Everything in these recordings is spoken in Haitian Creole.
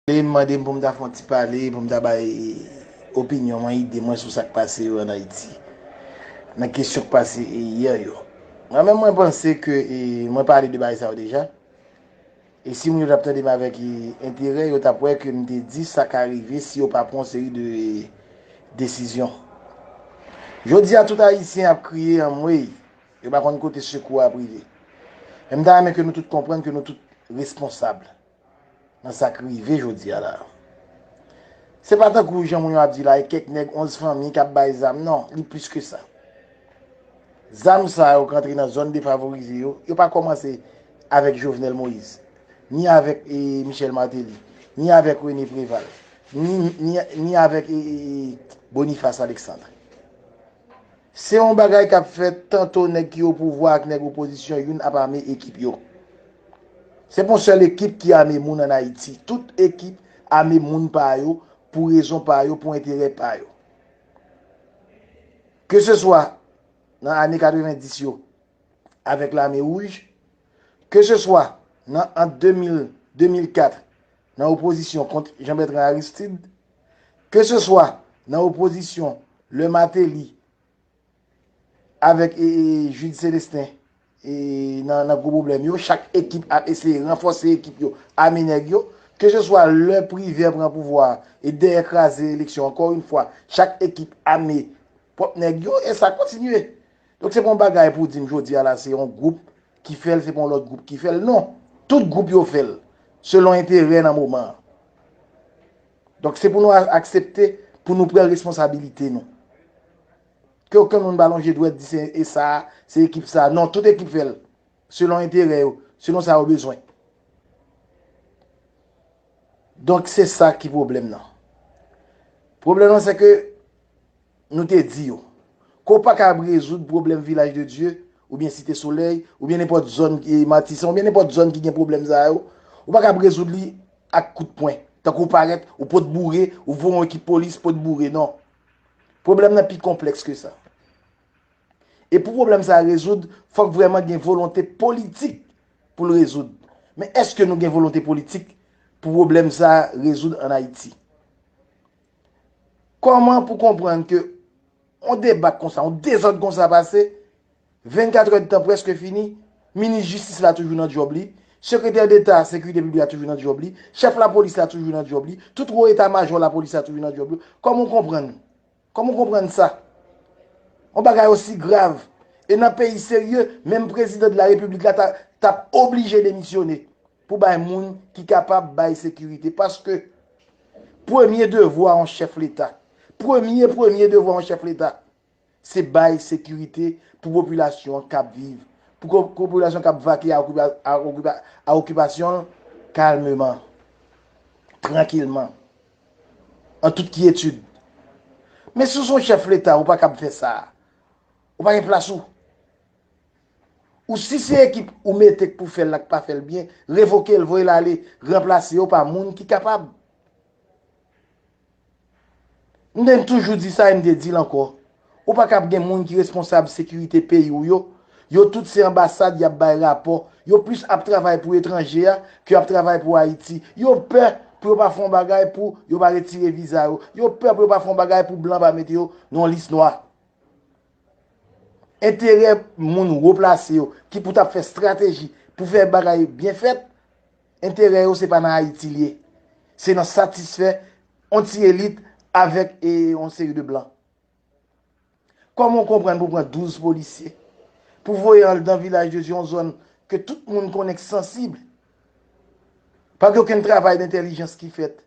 Li mande m pou m ta fè yon ti pale, pou m ta bay opinyon mwen, ide mwen sou sa k pase yo an Ayiti, nan kesyon k pase yè yo. Mwen menm mwen panse ke mwen pale de bagay sa yo deja, e si moun yo t ap tande m avèk enterè, yo t ap wè ke m te di sa ka rive si yo pa pran yon seri de desizyon. Jodi a tout Ayisyen ap kriye anmwey, yo pa konn kote sekou a ap rive. Men m ta renmen ke nou tout konprann ke nou tout responsab. Nan sa k rive jodi a la. Se pa tankou jan moun yo ap di la e kèk nèg 11 fanmi k ap bay zam non, li plis ke sa. Zam sa yo k rantre nan zòn defavorize yo, yo pa kòmanse avèk Jovenel Moïse, ni avèk Michel Martelly, ni avèk René Préval, ni avèk Boniface Alexandre. Se yon bagay kap fèt tanto nèg ki opouvwa ak nèg opozisyon youn ap ame ekip yo. Se pa yon sèl ekip ki ame moun an Ayiti. Tout ekip ame moun pa yo pou rezon pa yo, pou enterè pa yo. Ke se swa nan ane 90 yo avèk lame wouj, ke se swa nan ant 2000, 2004 nan opozisyon kont Jean Bertrand Aristide, Ke se swa nan opozisyon lè Mateli avèk Jude Celestin nan gwo pwoblèm yo, chak ekip ap eseye ranfòse ekip yo, ame nèg yo. Ke se swa lè Privè pran pouvwa a e dèyè kraze eleksyon ankò yon fwa chak ekip ame pwòp nèg yo e sa kontinye. Donk se pa yon bagay pou w di m jodi a la se yon gwoup ki fè l, se pa yon lòt gwoup ki fè l. Non! Tout gwoup yo fè l, selon enterè nan moman an. Donk se pou nou aksepte pou nou pran responsabilite nou. Ke okenn moun pa lonje dwèt di se e sa a, se ekip sa a. Non! Tout ekip fè l, selon enterè yo, selon sa yo bezwen. Donk se sa ki pwoblèm nan. Pwoblèm nan se ke Nou te di yo. Ke w pa kab rezoud pwoblèm Vilaj de Dye, oubyen Site Solèy, oubyen nenpòt zòn, Matisan, oubyen nenpòt zòn ki gen pwoblèm sa yo, ou pa kab rezoud li ak kout pwen, tankou w parèt, ou pot boure, ou voye yon ekip polis pot boure. Non. Pwoblèm nan pi konplèks ke sa. E pou pwoblèm sa a rezoud, fòk vrèman gen volonte politik pou l rezoud. Men èske nou gen volonte politik pou pwoblèm sa a rezoud an Ayiti? Kòman pou konprann ke yon debak konsa, yon dezòd konsa pase, 24 èd tan prèske fini, minis jistis la toujou nan djòb li, sekretè deta sekirite piblik la toujou nan djòb li, chèf lapolis la toujou nan djòb li, tout wo eta majò lapolis la toujou nan djòb yo, kòman ou konprann? Kòman ou konprann sa? Yon bagay osi grav, e nan peyi serye, menm prezidan de la repiblik la ta ta oblije demisyone. pou bay moun ki kapab bay sekirite paske premye devwa yon chèf leta, premye premye devwa yon chèf leta se bay sekirite pou popilasyon an kap viv, pou popilasyon kap vake a okipasyon l kalmeman, trankilman, an tout kyetid. Men si w se yon chèf leta ou pa kab fè sa, ou pa gen plas ou. Ou si se ekip ou mete k pou fèl la k pa fèl byen, revokel voyel ale ranplase yo pa moun ki kapab. M te toujou di sa e m te dil ankò, ou pa ka ap gen moun ki responsab sekirite peyi w yo, yo tout se anbasad yap bay rapò, yo plis ap travay pou etranje a ke yap travay pou Ayiti. Yo pè pou yo pa fè yon bagay pou yo pa retire viza yo, yo pè pou yo pa fè yon bagay pou blan pa mete yo nan yon lis nwa. enterè moun wo plase yo ki pou tap fè strateji pou fè bagay byen fèt, enterè yo se pa nan Ayiti li ye, se nan satisfè on ti elit avèk on seri de blan. Kòman w konprann pou pran 12 polisye, pou voye an dan vilaj de Dye on zòn ke tout moun konnen k sansib, pa gen okenn travay dentèlijans ki fèt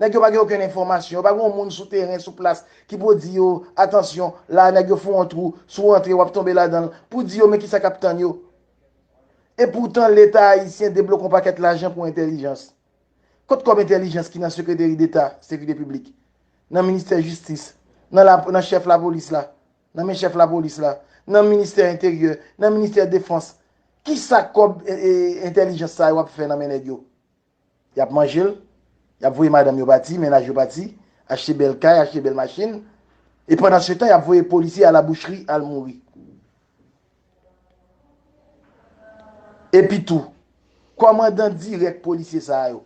Nèg yo pa gen okenn enfòmasyon, yo pa gen yon moun sou teren, sou plas ki pou di yo, atansyon, la a nèg yo fè yon twou, si w antre w ap tonbe ladan l, pou di yo men kisa k ap tann yo. Epoutan Leta ayisyen debloke yon pakèt lajan pou entèlijans. Kot kòb entèlijans ki nan sekreteri deta sekirite piblik, nan ministè jistis, nan la, nan chèf lapolis la, nan men chèf lapolis la, nan ministè enteryè, nan ministè defans, kisa kòb entèlijans sa yo ap fè nan men nèg yo? Y ap manje l, y ap voye madanm yo pati, mennaj yo pati, achte bèl kay, achte bèl machin, e pandansetan y ap voye polisye a la bouchri al mouri. Epitou, kòmandan dirèk polisye sa yo,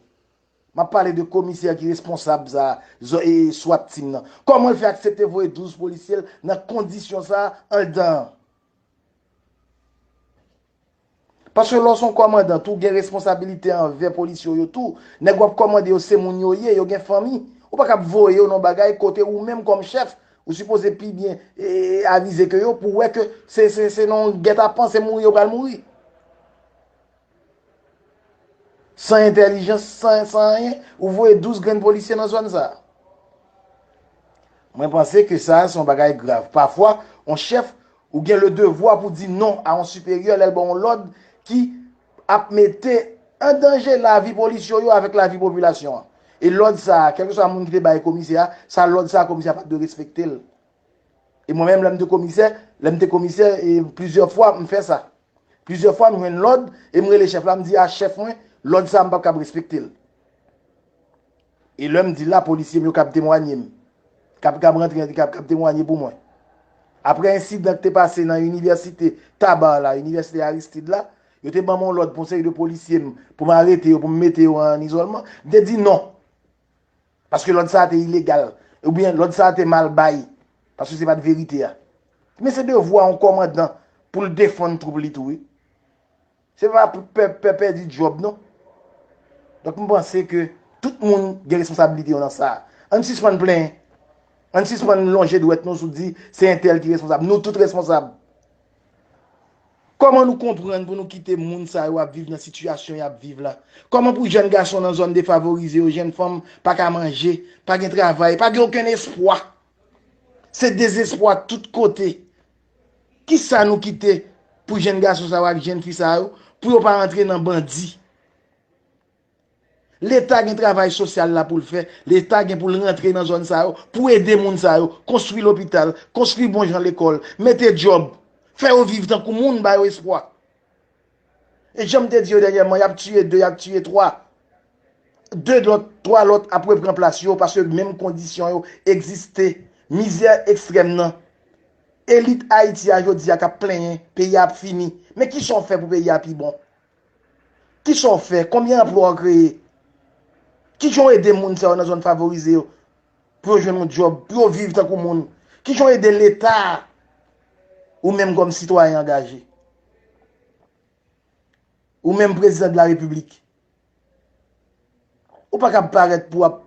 m ap pale de komisè ki responsab sa a, swat team nan, kòman l fè aksepte voye 12 polisye l nan kondisyon sa a anldan an? Paske lè w se yon kòmandan tou, w gen responsabilite anvè polisye w yo tou. Nèg w ap kòmande yo se moun yo ye, yo gen fanmi. Ou pa ka ap voye yo nan yon bagay kote ou menm kòm chèf, ou sipoze pi byen avize ke yo pou wè ke se nan yon gètapan, se mouri yo pral mouri. San entèlijans, san anyen, ou voye 12 grenn polisye nan zòn sa a. Mwen panse ke sa a se yon bagay grav. Pafwa, yon chèf, Ou gen le devwa pou di non a yon siperyè lè l ba w yon lòd ki ap mete an danje lavi polis yo yo avèk lavi popilasyon an. E lòd sa a, kèlkeswa moun ki te bay komisè a, sa lòd sa a komisè a pa t dwe respekte l. E mwen menm lè m te komisè, lè m te komisè e plizyè fwa m fè sa. Plizyè fwa m jwenn lòd e m rele chèf la m di a chèf mwen lòd sa a m p ap kab respekte l. E lè m di la, polisye m yo kab temwanye m. Kab kab rantre an, ki kab kab temwanye pou mwen. Aprè ensidan k te pase nan inivèsite Tabar la, inivèsite Aristide la, yo te ban m yon lòd pou yon seri de polisye m, pou m arete yo, pou m mete yo an izòlman. M te di non. Paske lòd sa a te ilegal. Oubyen lòd sa a te mal bay. Paske se pa t verite a. Men se devwa yon kòmandan pou l defann twoup li tou wi. Se pa pou pè pèdi djòb non. Donk m panse ke tout moun gen responsabilite yo nan sa. Ann sispann plenyen. Ann sispann lonje dwèt nou sou di se entèl ki responsab. Nou tout responsab. Kòman nou konprann pou nou kite moun sa yo ap viv nan sitiyasyon y ap viv la? Kòman pou jèn gason nan zòn defavorize yo, jèn fanm pa ka manje, pa gen travay, pa gen okenn espwa? Se dezespwa tout kote. Kisa nou kite pou jenn gason sa yo ak jenn fi sa yo pou yo pa antre nan bandi? Leta gen travay sosyal la pou l fè, leta gen pou l rantre nan zòn sa yo pou ede moun sa yo, konstwi lopital, konstwi bon jan lekòl, mete djòb, fè yo viv tankou moun, ba yo espwa. E janm te di yo dènyèman yap tiye 2 yap tiye 3 2 lòt 3 lòt ap repran plas yo paske menm kondisyon yo egziste mizè ekstrèm nan elit ayiti a jodi a kap plenyen peyi a ap fini men kisa w fè pou peyi a pi bon kisa w fè konbyen anplwa w kreye kijan w ede moun sa yo nan zòn favorize yo pou yo jwenn yon djòb, pou yo viv tankou moun. Ki jan w ede Leta ou menm kòm sitwayen angaje? Ou menm Prezidan de la Repiblik, ou pa kab parèt pou w ap.